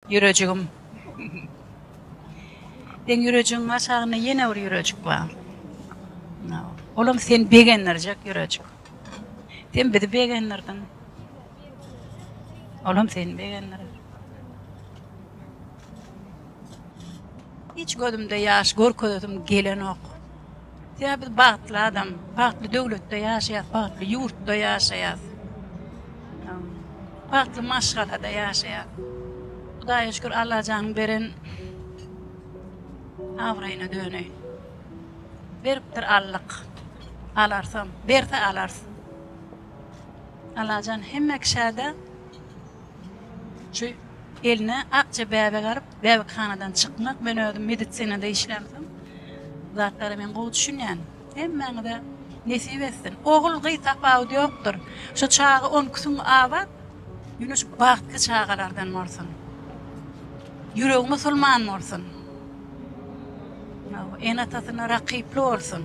Ýürejigim. Seň ýürejigiň aşagynda ýene bir ýürejik bar. Olam sen begendirjek ýürejik. Sen bizi begendirdiň. Olam sen begendir. Hiç gözümde ýaş görkezesim gelenok. Sebäbi biz bagtly adam, bagtly döwletde ýaşaýas, bagtly ýurtda ýaşaýas. Bagtly maşgalada ýaşaýas. Hudaýa şükür Allajanyň beren abraýyna döneýin. Beripdir Allyk. Alarsam, berse alars. Allajan hemme kişäde şu eline akja bäbek alyp Bäbekhanadan çykmak, men özüm medisinada işlän soň zatlara men gowy düşünýän. Hemmäňize nesip etsin. Ogul gyz tapawudy ýokdur. Şu çaga on iki süňňi abat, ýöne şu bagtly çagalardan bolsun. Ýüregi musulman bolsun. Ene-atasyna rakyply bolsun.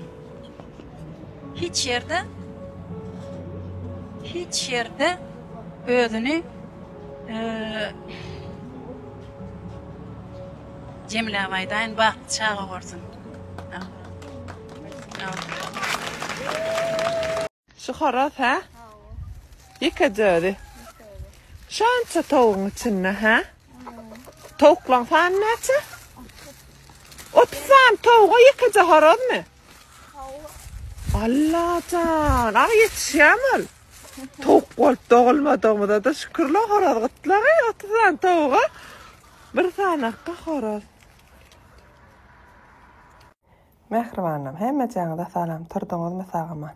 Hiç ýerde hiç ýerde özüni Jemile abaý daýyn bagtly çaga görsün. Şu horaz hä? Ýekeje özi. Şança towugyň içinde hä? Towuklaň sany näçe? Otuz sany towuga ýekeje horazmy? Allajan, aň ýetişýämi ol? Towuk bolup dogulmadygymyza-da şükürler, horaz gytlagy, otuz sany towuga bir sanakka horaz. Mähribanam, hemmejaňyza salam, turduňyzmy sag-aman?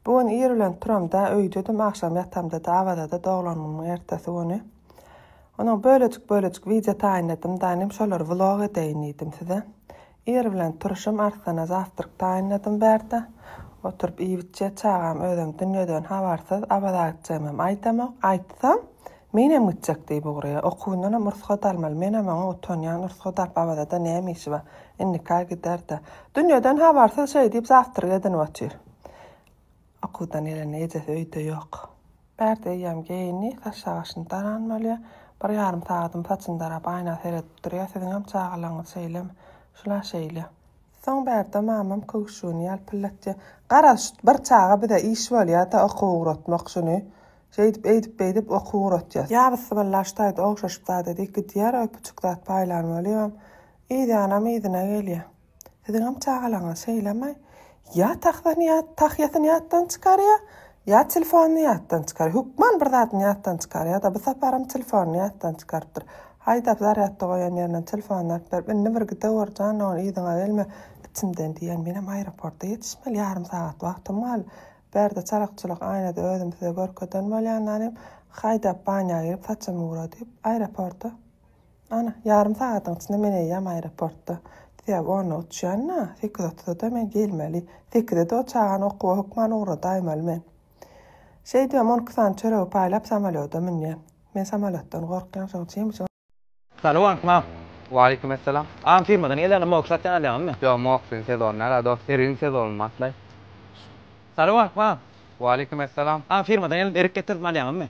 Bu gün ir bilen turam-da, öýdedim, agşam ýatamda-da Awaza-da doglanymyň ertesi güni. Onuň bölejik-bölejik wideo taýynladym-da, inim şolary vlog edeýin diýdim size. Ir bilen turşum Arslana zawtryk taýynladym bärde oturyp iýibitjek çagam özem dünýeden habarsyz Abazagitjegimem aýdamok aýtsam menem gitjek diýip ugrýa okuwyndanam rugsat almaly menem oňa utanýan rugsat alyp Abazada näme işi bar indika giderde dünýeden habarsyz şeý diýip zawtryk edinip otyr Okuwdan gelende ejesi öýde ýok. Bärde eýýäm geýindi, saçjagaşyny daranmaly. Bir ýarym sagadam saçyny darap aýna seredip durýar. Siziňem çagalaryňyz şeýlemi? Şul-a şeýle. Soň Bärde mamam köwşügini ýalpyldatýar. Garaz, şu bir çaga bize iş bolýa-da okuw ugratmak şuny. Şeýdip, eýdip-beýdip okuw ugratýas. Ýa bysymylla şu taýda ogşaşyp zat edýäk, gidýär, öýpüçük zat paýlan bolýabam. Yzýanam yzyna gelýär. Siziňem çagalaryňyz şeýlemi? Ýa tahtasyny ýa tahýasyny ýatdan çykarýa, ýa telefonyny ýatdan çykarýa. Hökman bir zadyny ýatdan çykarýa-da. Bu saparam telefonyny ýatdan çykarypdyr. Haýdap zarýadda goýan ýerinden telefonyny alyp berip, Indi bir gideweri jan dogan, yzyňa gelme. Içimden diýýän, menem aeroporta ýetişmeli, ýarym sagat wagtym gal. Bärde çalak-çulak aýnada özümi size görkezen bolýan ýalym, haýdap banýa girip saçymy gura diýip, aeroporta. Ana, ýarym sagadyň içinde men eýýäm aeroportda. Sebäbi onda uçýan-da, sekiz otuzada men gelmeli. Sekize-de o çagany okuwa hökman ugradaýmaly men. Şeý diýýän, on iki sany çöregi paýlap samolýoda münýän. Men samolýotdan gorkýan, şoň üçin. Salam Akmal. Waleýkim essalam. Agam firmadan gelýäňmi, moge satýan alýaňmy? Ýok, mogesiň sezony nära dost, erigiň sezony başlaý. Salam Akmal. Waleýkim essalam. Agam firmadan geldim, erik getirdim alýaňmy?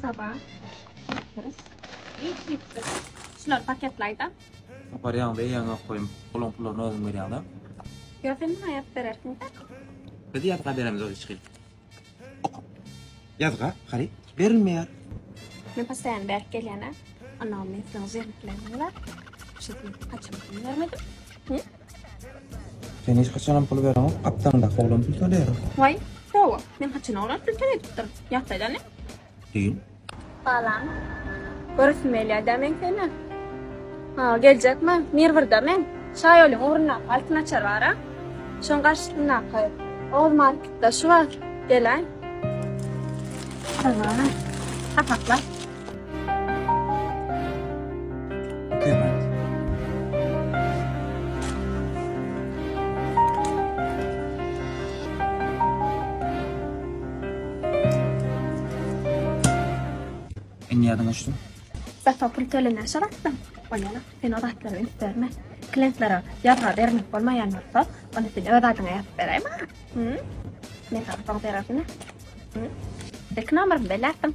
Saba. Şular paketlayda. Aparýaň da eýäň ýok goýum. Olaň pullaryny özüň berýäňdä. Ýa sen maňa ýazyp berersiňdä. Biz ýazga beremiz ol içgil. Ýazga haryt berilmeýär. Men postaýany bärik gelýän-ä. Onam men siziň jigimleriňiz-ä. Şeýdip haçan pul bermedim. Hä? Sen hiç haçanam pul bereňok, gapdaňdaky oglan pul töleýär. Waý, hawa, men haçan oglan pul töledipdir? Ýatlaýda indi. Düýn. Salam. Göresim gelýär-dä meň seni. Ha, geljekmi? Mir birde meň. Şaýolyň ugrundaky Altyn açar bar-a. Şoň garşysyndaky Oguz marketde şu bar. Gel-ä. Salam. Sapaklap. Indi ýadyňa düşdi. Zata pul tölener şaratda. Bolýana, sen o zatlary üns berme. Klientlere ýazga bermek bolmaýan bolsa, onda sen öz adyňa ýazyp beräý maňa. Hü? Men sana soň bererin. Hü? Ilki nomerymy belläpdim.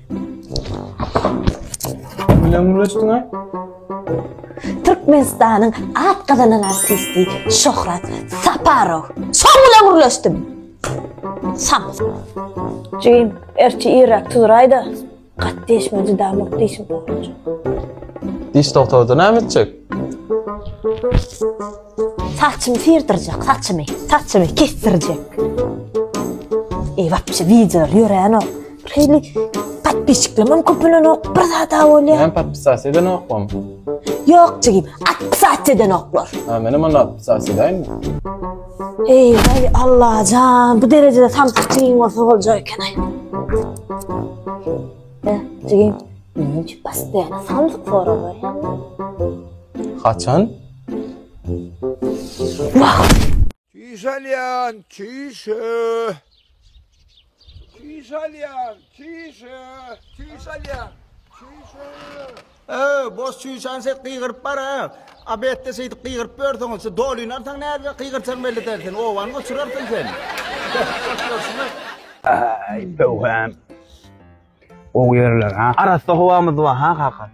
Bilen gürleşdiňä? Türkmenistanyň at gazanan artisti Şöhrat Saparow. Şoň bilen gürleşdim. Sam. Jigim, erçi irrak tuzraýda. Gat deşme juda muk dişim. Diş doktory näme etjek? Saçymy syrdyrjak, saçymy, saçymy kesdirjek. Eý, wapşe wideolar ýörenok. Şeýle podpisçiklemem köpelenok, bir zada bolýar. Näme podpisas edenokmam? Ýok, jigim, atpisas edenoklar. Ha, menem onda atpisas edäýinmi? Eý, eý, Allajan, bu derejede samsyk jigim bolsa boljak eken-aý. Hä, jigim, näme üçin postoýan samsyk sorag berýäň? Haçan? Çüýş alýan, çüýş. Çüýş alýan, çüýş. Çüýş alýan. Çüýş. Öö, boş çüýşan ses gygyryp bar ha. A betde şeýdip gygyryp ýörseň, şu dolinarsaň näzbe gygyrsaň belli däl sen. Obany goçurarsyň sen. Aý, öwhem. Gowy ýerler ha. Arassa howamyz bar ha kaka.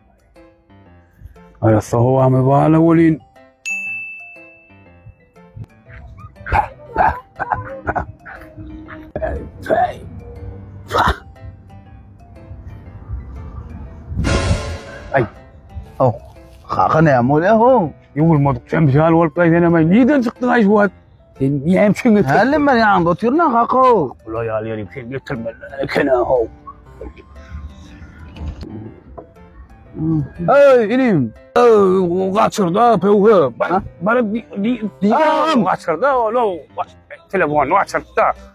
Arassa howamyz bar la welin. Ay. Oh. Kaka ne amol ya ho? Yuvulmadık sen bir şey al olup gayden ama neden çıktın ay şu Sen näme üçin götürdin? Hälem ben ýanynda otyryn kaka. Ula ýal ýerim sen götürmeli ekene ho. Ey inim. Ey kaçırda pöwhe. Bana bana di di di kaçırda oğlum. Telefonu kaçırda.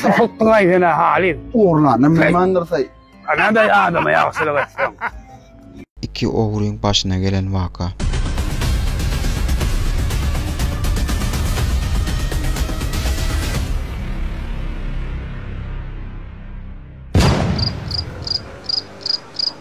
Şyhyk gylaý sene Halyl. Ogurlana myhmandyrsaý. Nädäý adama ýagşylyk etseň. Iki ogryň başyna gelen waka.